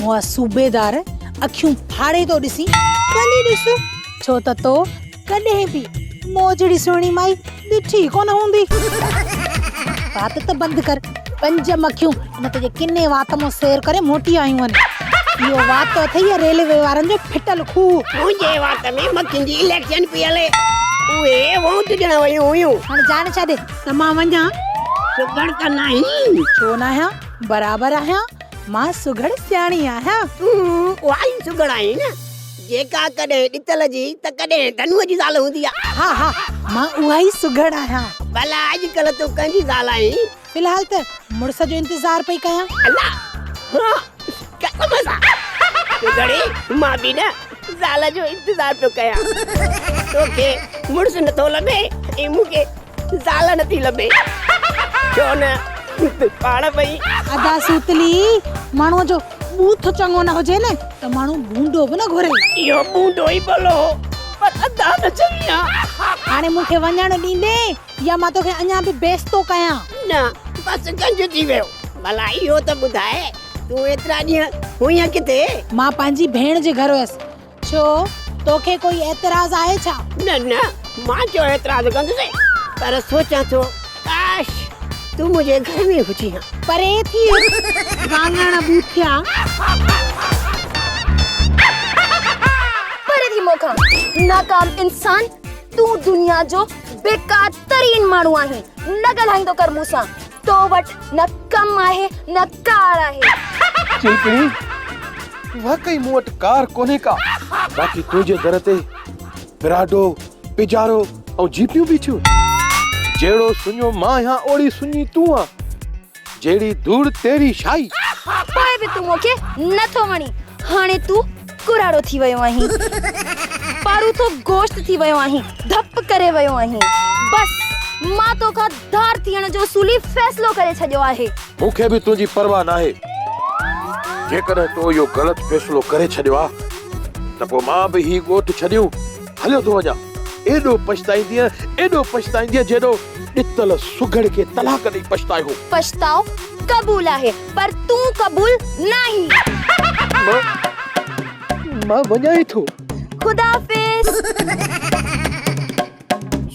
اهو صوبيدار اکيون ڦاڙي ٿو ڏسين. ڀلي ڏس، ڇو ته تو ڪڏهن به مون جهڙي سهڻي مائي ڏٺي ئي ڪونه هوندي. وات ته بند ڪر، پنج مکيون ان تنهنجي ڪني وات مان سير ڪري موٽي آيون آهن. اهو وات اٿئي يا ريلوي وارن جو ڦٽل کوهه. تنهنجي وات ۾ مکين جي اليڪشن پئي هلي. اهي ووٽ ڏيڻ ويون هيون. هاڻي جان ڇڏ ته مان وڃان. سگهڙ ته ناهين؟ ڇو ناهيان، برابر آهيان. مان سگهڙ سياڻي آهيان. تون اها ئي سگهڙ آهين نه، جيڪا ڪڏهن ڏتل جي ته ڪڏهن ڌنوء جي زال هوندي آهي. ها ها، مان اها ئي سگهڙ آهيان. ڀلا اڄڪلهه تون ڪنهن جي زال آهين؟ في الحال ته مڙس جو انتظار پئي ڪيان. الله! ها! قسم سان! سگهڙي، مان به نه زال جو انتظار پيو ڪيان توکي مڙس نٿو لڀي ۽ مون کي زال نٿي لڀي ڇو نه پاڻ پئي ادا سوتلي ماڻهو جو بوٿ چڱو نه هجي نه ته ماڻهو بونڊو به نه گهري اهو بونڊو ئي ڀلو هو پر ادا نه چڱي آ هاڻي مون کي وڃڻ ڏيندين يا مان توکي اڃا به بيس ٿو ڪيان. نه بس گنج ٿي ويو. ڀلا اهو ته ٻڌاء تون ايترا ڏينهن هئينء ڪٿي؟ مان پنهنجي ڀيڻ جي گهر هيس. ڇو توکي ڪوئي اعتراض آهي ڇا؟ نه نه مان ڇو اعتراض ڪندس پر سوچان ٿو ڪاش تون منهنجي گهر ۾ هجين ها. پري ٿي واڱڻ ٻوٿيان. پري ٿي مون کان ناڪام انسان. تون دنيا جو بيڪار ترين ماڻهو آهين نه ڳالهائيندو ڪر مون سان تو وٽ نه ڪم آهي نه ڪار آهي. چلپڻي واقعي مون وٽ ڪار ڪونهي ڪا. باقي تنهنجي در تي پراڊو، پجارو ۽ جيپيون بيٺيون. جهڙو سڃو مان آهيان اوڙي سڃي تون آن. جهڙي ڌوڙ تهڙي شاهي. پوء به تون مون کي نه ٿو وڻين. هاڻي تون ڪراڙو ٿي ويو آهين. پاروٿو گوشت ٿي ويو آهين. ڌپ ڪري ويو آهين. بس مان تو کان ڌار ٿيڻ جو اصولي فيصلو ڪري ڇڏيو آهي. مون کي به تنهنجي پرواهه ناهي. جيڪڏهن تو اهو غلط فيصلو ڪري ڇڏيو آ ته پوء مان به هي ڳوٺ ڇڏيون. هليو ٿو وڃان. ايڏو پڇتائيندينء، ايڏو پڇتائيندينء جيڏو ڏتل سگهڙ کي طلاق ڏئي پڇتائي هو. پڇتاء قبول آهي، پر تون قبول ناهين. مان، مان وڃان ئي ٿو. خداحافظ.